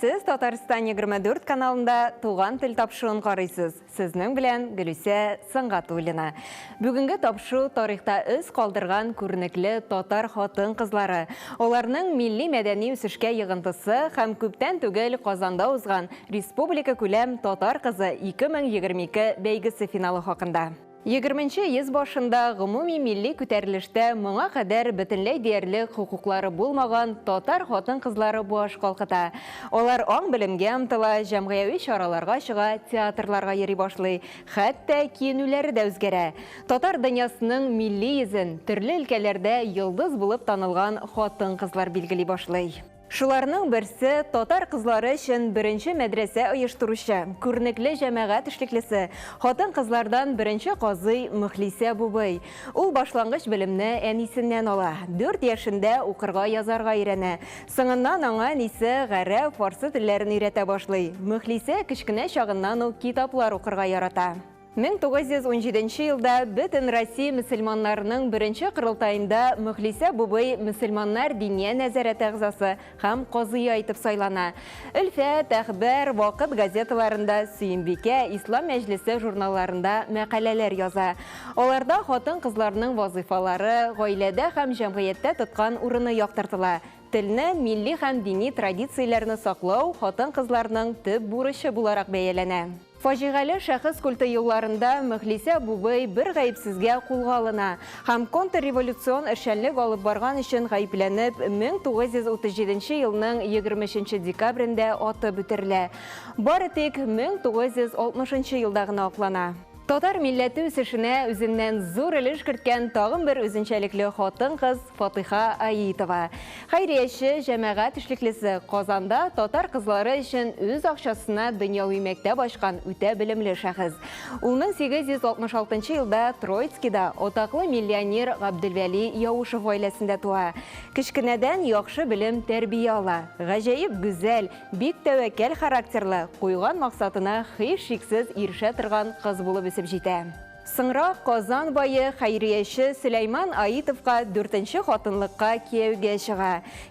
Сез Татарстан 24 каналында Туган тел тапшуын карыйсыз. Сезнең белән Гөлүсә Сангатуллина. Бүгенге тапшу тарихта эз калдырган күренекле татар хатын-кызлары, аларның милли-мәдәни үсешкә йыгынтысы һәм күптән түгел Казанда узган республика күләм Татар кызы 2022 бәйгесе финалы хакында. Егерменче йөз башында гомуми милли күтәрелештә моңа кадәр бөтенләй диярлек хокуклары булмаган татар хатын-кызлары баш калкыта. Алар аң-белемгә омтыла, җәмгыяви чараларга чыга, театрларга йөри башлый. Хәтта киенүләре дә үзгәрә. Татар дөньясының милли йөзен төрле өлкәләрдә йолдыз булып танылган хатын-кызлар билгели башлый. Шуларның берсе, татар кызлары өчен беренче мәдрәсә оештыручы, күренекле җәмәгать эшлеклесе, хатын-кызлардан беренче казый Мөхлисә Бубый. Ул башлангыч белемне әнисеннән ала, дүрт яшендә укырга язарга өйрәнә. Соңыннан аңа әнисе гарәп, фарсы телләрен өйрәтә башлый. Мөхлисә кечкенә чагыннан ук китаплар укырга ярата. 1917 нче елда бөтен Россия мөселманнарының беренче корылтаенда Мөхлисә бубый мөселманнар Диния нәзарәте әгъзасы һәм казые итеп сайлана. Өлфәт, Әхбәр, Вакыт газеталарында, Сөембикә, Ислам мәҗлесе журналларында мәкаләләр яза. Аларда хатын-кызларның вазыйфалары, гаиләдә һәм җәмгыятьтә тоткан урыны яктыртыла. Телне, милли һәм дини традицияләрне саклау хатын-кызларның төп бурычы буларак бәяләнә. Фаҗигале шәхес культы елларында Мөхлисә абубый бер гаепсезгә кулга алына һәм контрреволюцион эшчәнлек алып барган өчен гаепләнеп, 1937 елның 23 декабрендә атып үтерелә. Бары тик 1960 елда гына аклана. Татар милләте үсешенә үзеннән зур өлеш керткән тагын бер үзенчәлекле хатын-кыз Фатыйха Аитова, хәйрияче, җәмәгать эшлеклесе, Казанда татар кызлары өчен үз акчасына дөньяви мәктәп ачкан үтә белемле шәхес. Ул 1866 елда Троицкида атаклы миллионер Габделвәли Яушев гаиләсендә туа. Кечкенәдән яхшы белем, тәрбия ала. Гаҗәеп гүзәл, бик тәвәккәл характерлы, куйган максатына һичшиксез ирешә торган кыз булып үсеп җитә. Соңрак Казан бае, хәйрияче Сөләйман Аитовка дүртенче хатынлыкка кияүгә чыга.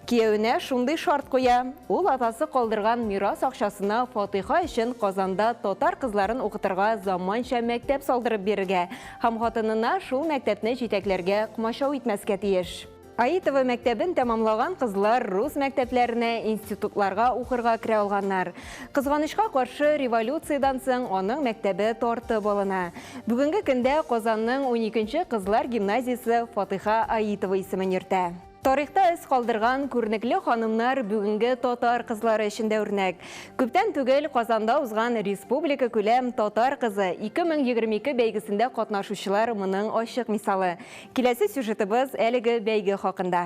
Кияүенә шундый шарт куя, ул атасы калдырган мирас акчасына фатыйха өчен Казанда татар кызларын укытырга заманча мәктәп салдырып бирергә һәм хатынына шул мәктәпне җитәкләргә комачау итмәскә тиеш. Аитово мәктәбен тәмамлаган кызлар рус мәктәпләренә, институтларга укырга керә алганнар. Кызганычка каршы, революциядән соң аның мәктәбе тартып алына. Бүгенге көндә Казанның 12 нче кызлар гимназиясе Фатыйха Аитова исемен йөртә. Тарихта эз калдырган күренекле ханымнар бүгенге татар кызлары өчен дә үрнәк. Күптән түгел Казанда узган республикакүләм Татар кызы 2022 бәйгесендә катнашучылар моның ачык мисалы. Киләсе сюжетыбыз әлеге бәйге хакында.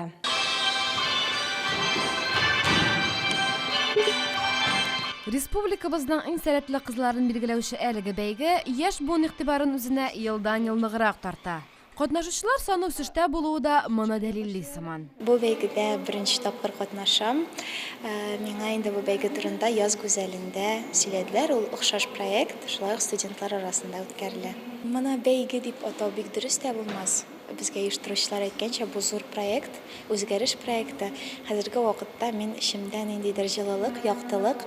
Республикабызның иң сәләтле кызларын билгеләүче әлеге бәйге яшь буын игътибарын үзенә елдан-ел ныграк тарта. Катнашучылар саны үсештә булуы да моны дәлилли сыман. Бу бәйгедә беренче тапкыр катнашам. Миңа инде бу бәйге турында Яз гүзәлендә сөйләделәр. Ул охшаш проект, шулай ук студентлар арасында үткәрелә. Моны бәйге дип атау бик дөрес тә булмас. Безгә оештыручылар әйткәнчә, бу зур проект, үзгәреш проекты. Хәзерге вакытта мин эчемдә ниндидер җылылык, яктылык,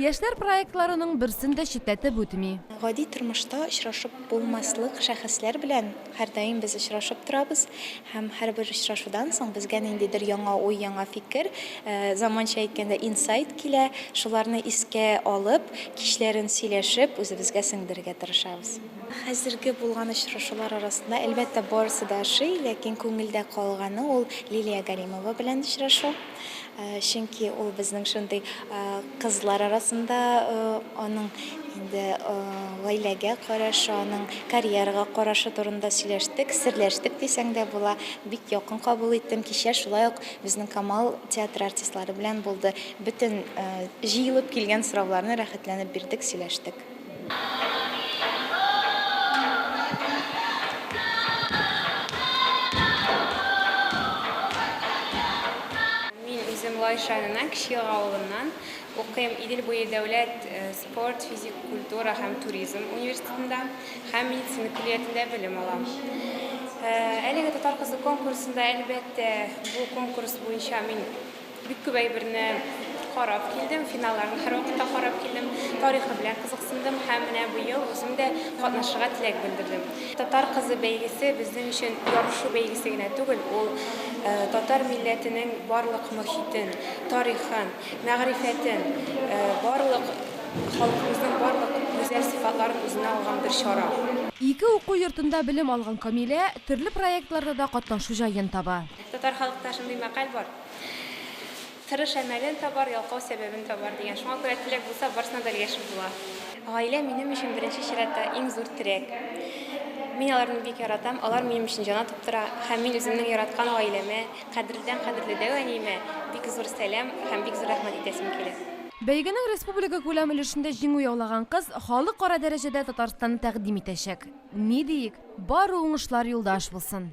Яшьләр проектларының берсен дә читләтеп үтми. Гади тормышта очрашып булмаслык шәхесләр белән һәрдаим без очрашып торабыз һәм һәрбер очрашудан соң безгә ниндидер яңа уй, яңа фикер, заманча әйткәндә, инсайт килә. Шуларны искә алып, кичләрен сөйләшеп, үзебезгә сеңдерергә тырышабыз. Хәзерге булган очрашулар арасында, әлбәттә, барысы да ошый, ләкин күңелдә калганы ул Лилия Галимова белән очрашу. Чөнки ул безнең шундый кызлар арасында аның инде гаиләгә карашы, аның карьерага карашы турында сөйләштек, серләштек дисәң дә була. Бик якын кабул иттем. Кичә шулай ук безнең Камал театры артистлары белән булды. Бөтен җыелып килгән сорауларны рәхәтләнеп бирдек, сөйләштек. Лайшанына кече авылыннан укыйм Идел буе дәүләт э, спорт, физик культура һәм туризм университетында һәм медицина көллиятендә белем алам. Э, әлеге татар кызы конкурсында әлбәттә бу конкурс буенча мин Бик күп әйберне карап килдем, финалларны һәрвакытта карап килдем. Тарихы белән кызыксындым һәм менә быел үзем дә катнашырга теләк белдердем. Татар кызы бәйгесе безнең өчен ярышу бәйгесе генә түгел, ул татар милләтенең барлык мохитен, тарихын, мәгърифәтен, барлык халкыбызның барлык гүзәл сыйфатларын үзенә алган бер чара. Ике уку йортында белем алган Камилә төрле проектларда да катнашу җаен таба. Татар халыкта шундый мәкаль бар, Тырыш әмәлен табар, ялкау сәбәбен табар, дигән. Шуңа күрә теләк булса, барысына да өлгәшеп була. Гаилә минем өчен беренче чиратта иң зур терәк. Мин аларны бик яратам, алар минем өчен җан атып тора һәм мин үземнең яраткан гаиләмә, кадерледән кадерле дәү әниемә бик зур сәлам һәм бик зур рәхмәт әйтәсем килә. Бәйгенең республикакүләм өлешендә җиңү яулаган кыз халыкара дәрәҗәдә Татарстанны тәкъдим итәчәк. Ни диик, бары уңышлар юлдаш булсын!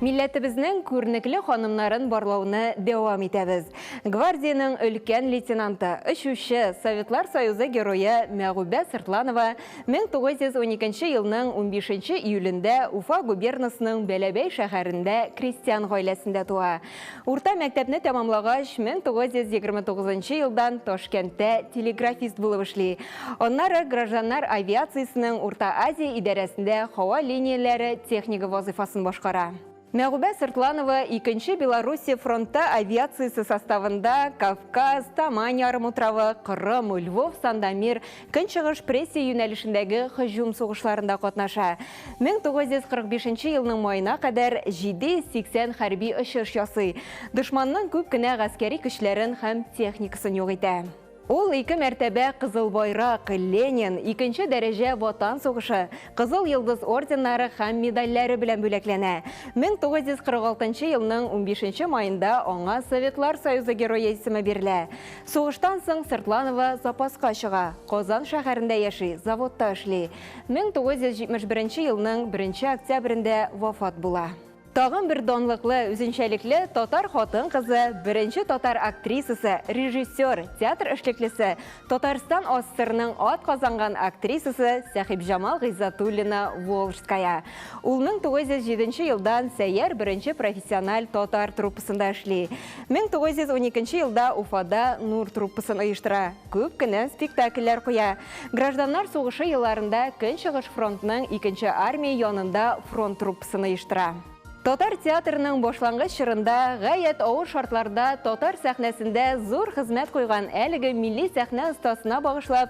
Милләтебезнең күрнекле ханымнарын барлауны дәвам итәбез. Гвардиянең өлкән лейтенанты, очучы, Советлар Союзы герое Мәгүбә Сыртланова 1912 елның 15 июлендә Уфа губернасының Бәләбәй шәһәрендә крестьян гаиләсендә туа. Урта мәктәпне тәмамлагач, 1929 нчы елдан Ташкәнттә телеграфист булып эшли. Аннары гражданнар авиациясенең Урта Азия идарәсендә һава линияләре технигы вазыйфасын башкара. Мәгүбә Сыртланова Икенче Белоруссия фронты авиациясе составында Кавказ, Тамань ярымутравы, Кырым, Львов, Сандомир, Көнчыгыш прессия юнәлешендәге һөҗүм сугышларында катнаша. 1945 елның маена кадәр 780 хәрби очыш ясый, дошманның күп кенә гаскәри көчләрен һәм техникасын юк итә. Ул ике мәртәбә Кызыл Байрак, Ленин, икенче дәрәҗә Ватан сугышы, Кызыл Йолдыз орденнары һәм медальләре белән бүләкләнә. 1946 елның унбишенче маенда аңа Советлар Союзы Герое исеме бирелә. Сугыштан соң Сыртланова запаска чыга, Казан шәһәрендә яши, заводта эшли. 1971 елның беренче октябрендә вафат була. Тагын бер данлыклы, үзенчәлекле татар хатын-кызы, беренче татар актрисасы, режиссер, театр эшлеклесе, Татарстан АССРның атказанган актрисасы Сәхибҗамал Гыйззатуллина Волжская. Ул 1907 елдан Сәйяр беренче профессиональ татар труппасында эшли. 1912 нче елда Уфада Нур труппасын оештыра, күп кенә спектакльләр куя. Гражданнар сугышы елларында Көнчыгыш фронтның икенче армия янында фронт труппасын оештыра. Татар театрының башлангыч чорында гаять авыр шартларда татар сәхнәсендә зур хезмәт куйган әлеге милли сәхнә остасына багышлап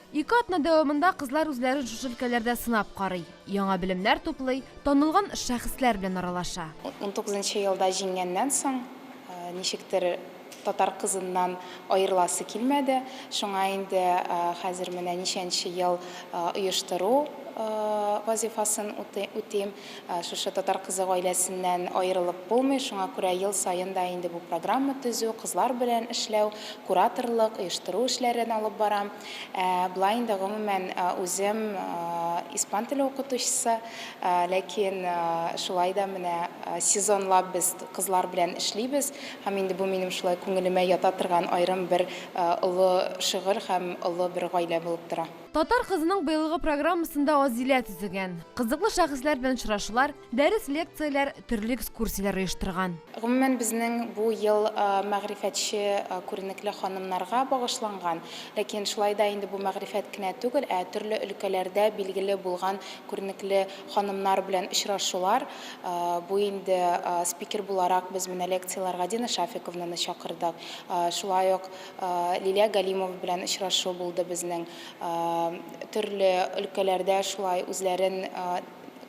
Ике атна дәвамында кызлар үзләрен шушы өлкәләрдә сынап карый, яңа белемнәр туплый, танылган шәхесләр белән аралаша. Унтугызынчы елда җиңгәннән соң, ничектер, татар кызыннан аерыласы килмәде. Шуңа инде хәзер менә ничәнче ел оештыру вазифасын үтим. Шушы Татар кызы гаиләсеннән аерылып булмый, шуңа күрә ел саен да инде бу программа төзү, кызлар белән эшләү, кураторлык, оештыру эшләрен алып барам. Ә болай инде гомумән үзем испан теле укытучысы, ләкин шулай да менә сезонлап без кызлар белән эшлибез һәм инде бу минем шулай күңелемә ята торган аерым бер олы шөгыль һәм олы бер гаилә булып тора. Татар кызының быелгы программасында Азилә төзегән. Кызыклы шәхесләр белән очрашулар, дәрес лекцияләр, төрле экскурсияләр оештырган. Гомумән, безнең бу ел мәгърифәтче күренекле ханымнарга багышланган. Ләкин шулай да инде бу мәгърифәт кенә түгел, ә төрле өлкәләрдә билгеле булган күренекле ханымнар белән очрашулар. Бу инде спикер буларак без менә лекцияләргә Дина Шафиковнаны чакырдык. Шулай ук Лилия Галимова белән очрашу булды безнең. Төрле өлкәләрдә шулай үзләрен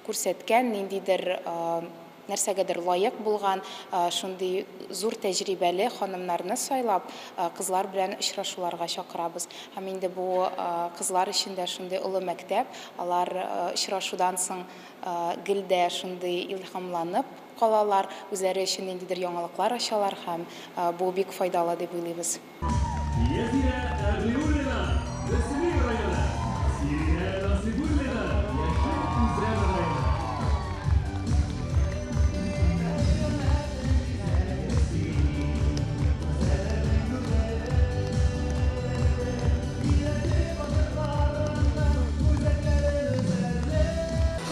күрсәткән, ниндидер нәрсәгәдер лаек булган, шундый зур тәҗрибәле ханымнарны сайлап, кызлар белән очрашуларга чакырабыз. Һәм инде бу кызлар өчен дә шундый олы мәктәп, алар очрашудан соң гел дә шундый илһамланып, калалар, үзләре өчен ниндидер яңалыклар ачалар һәм бу бик файдалы дип уйлыйбыз. Язия Әгълиуллина, Мөслим районы, Сиринә Насыйбуллина, Яшел Үзән районы.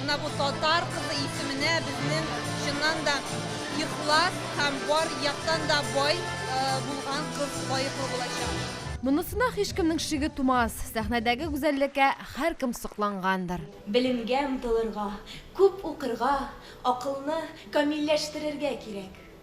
Менә бу татар кызы исеменә безнең чыннан да ихлас һәм бар яктан да бай булган кыз лаеклы булачак. Монысына һичкемнең шиге тумас, сәхнәдәге гүзәллеккә һәркем соклангандыр. Белемгә омтылырга, күп укырга, акылны камилләштерергә кирәк.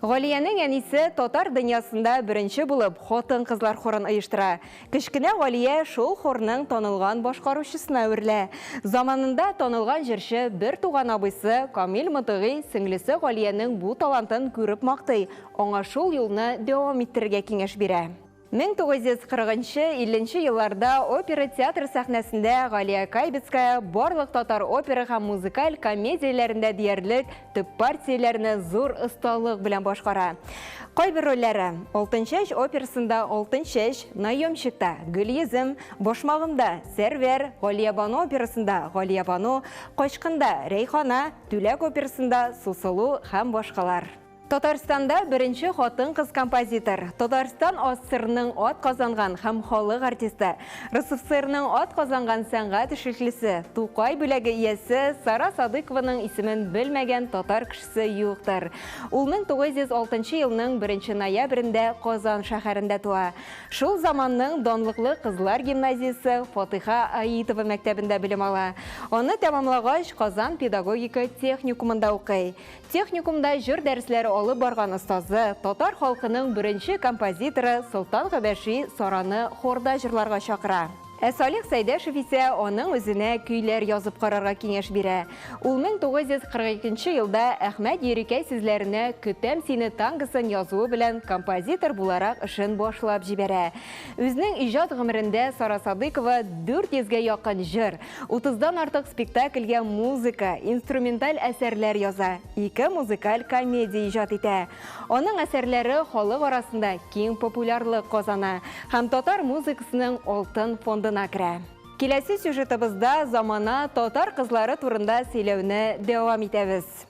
Галиянең әнисе татар дөньясында беренче булып хатын-кызлар хорын оештыра. Кечкенә Галия шул хорның танылган башкаручысына әверелә. Заманында танылган җырчы бертуган абыйсы Камил Мотыйгый сеңлесе Галиянең бу талантын күреп мактый, аңа шул юлны дәвам иттерергә киңәш бирә. Мең тугыз йөз кырыгынчы, илленче елларда опера театры сәхнәсендә Галия Кайбицкая барлык татар опера һәм музыкаль комедияләрендә диярлек төп партияләрне зур осталык белән башкара. Кайбер рольләре, Алтынчәч операсында Алтынчәч, Наемщикта, Гөлйөзем, Башмагымда, Сәрвәр, Галиябану операсында Галиябану, Качкында, Рәйхана, Түләк операсында Сусылу һәм башкалар. Татарстанда беренче хатын-кыз композитор, Татарстан АССРның ат казанган һәм халык артисты, РСФСРның ат казанган сәнгать эшлеклесе, Тукай бүләге иясе Сара Садыкованың исемен белмәгән татар кешесе юктыр. Ул 1906 елның 1 ноябрендә Казан шәһәрендә туа. Шул заманның данлыклы кызлар гимназиясе Фатыйха Аитова мәктәбендә белем ала. Аны тәмамлагач, Казан педагогика техникумында укый. Техникумда җыр дәресләре алып барган остазы, татар халкының беренче композиторы Солтан Габәши Сараны хорда җырларга чакыра. Ә Салих Сәйдәшев исә аның үзенә көйләр язып карарга киңәш бирә. Ул 1942 нче елда Әхмәт Ерикәй сүзләренә Көтәм сине тангосын язуы белән композитор буларак эшен башлап җибәрә. Үзнең иҗат гомерендә Сара Садыйкова 400 гә якын җыр, Утыздан артык спектакльгә музыка, инструменталь әсәрләр яза, ике музыкаль комедия иҗат итә. Аның әсәрләре халык арасында киң популярлык казана һәм татар музыкасының алтын фондына керә. Киләсе сюжетыбызда замана татар кызлары турында сөйләүне дәвам итәбез.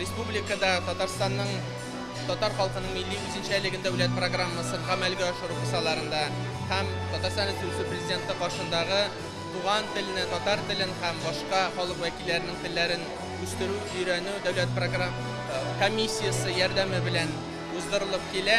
Республикада Татарстанның татар халкының милли үзенчәлеген дәүләт программасын гамәлгә ашыру кысаларында һәм Татарстан Республикасы Президенты каршындагы Туган телне, татар телен һәм башка халык вәкилләренең телләрен үстерү, өйрәнү дәүләт програм комиссиясе ярдәме белән уздырылып килә.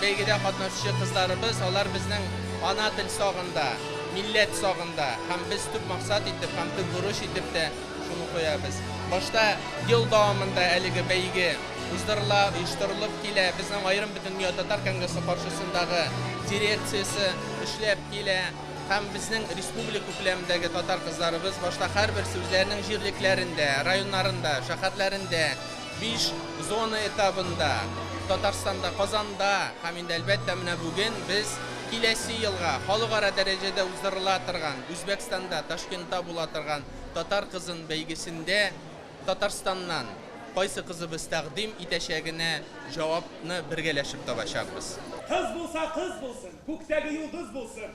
Бәйгедә катнашучы кызларыбыз, алар безнең ана тел сагында, милләт сагында һәм без төп максат итеп һәм төп бурыч итеп тә шуны куябыз. Башта ел дәвамында әлеге бәйге уздырыла, оештырылып килә. Безнең аерым Бөтендөнья татар конгрессы каршысындагы дирекциясе эшләп килә һәм безнең республика күләмендәге татар кызларыбыз башта һәрберсе үзләренең җирлекләрендә, районнарында, шәһәрләрендә, Биш зона этабында, Татарстанда, Казанда һәм инде, әлбәттә, менә бүген без киләсе елга халыкара дәрәҗәдә уздырыла торган, Үзбәкстанда, Ташкентта була торган Татар кызын бәйгесендә Татарстаннан кайсы кызыбыз тәкъдим итәчәгенә җавапны бергәләшеп табачакбыз. Кыз булса, кыз булсын, күктәге йолдыз булсын!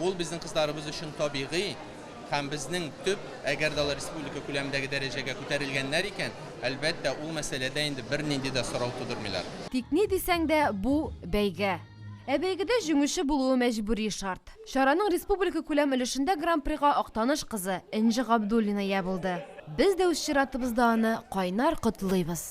Ул безнең кызларыбыз өчен табигый һәм безнең төп, әгәр дә алар республика күләмендәге дәрәҗәгә күтәрелгәннәр икән, әлбәттә, ул мәсьәләдә инде бернинди дә сорау тудырмыйлар. Тик ни дисәң дә, бу, бәйге. Ә бәйгедә җиңүче булуы мәҗбүри шарт. Чараның республикакүләм өлешендә Гран-прига Актаныш кызы Энҗе Габдуллина ия булды. Без дә үз чиратыбызда аны кайнар котлыйбыз!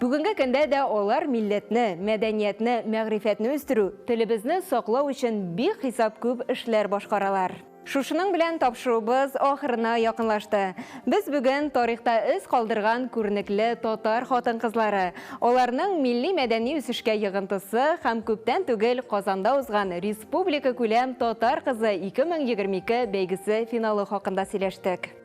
Бүгенге көндә дә алар милләтне, мәдәниятне, мәгърифәтне үстерү, телебезне саклау өчен бихисап күп эшләр башкаралар. Шушының белән тапшыруыбыз ахырына якынлашты. Без бүген тарихта эз калдырган күренекле татар хатын-кызлары, аларның милли-мәдәни үсешкә йогынтысы һәм күптән түгел Казанда узган республикакүләм Татар кызы-2022 бәйгесе финалы хакында сөйләштек.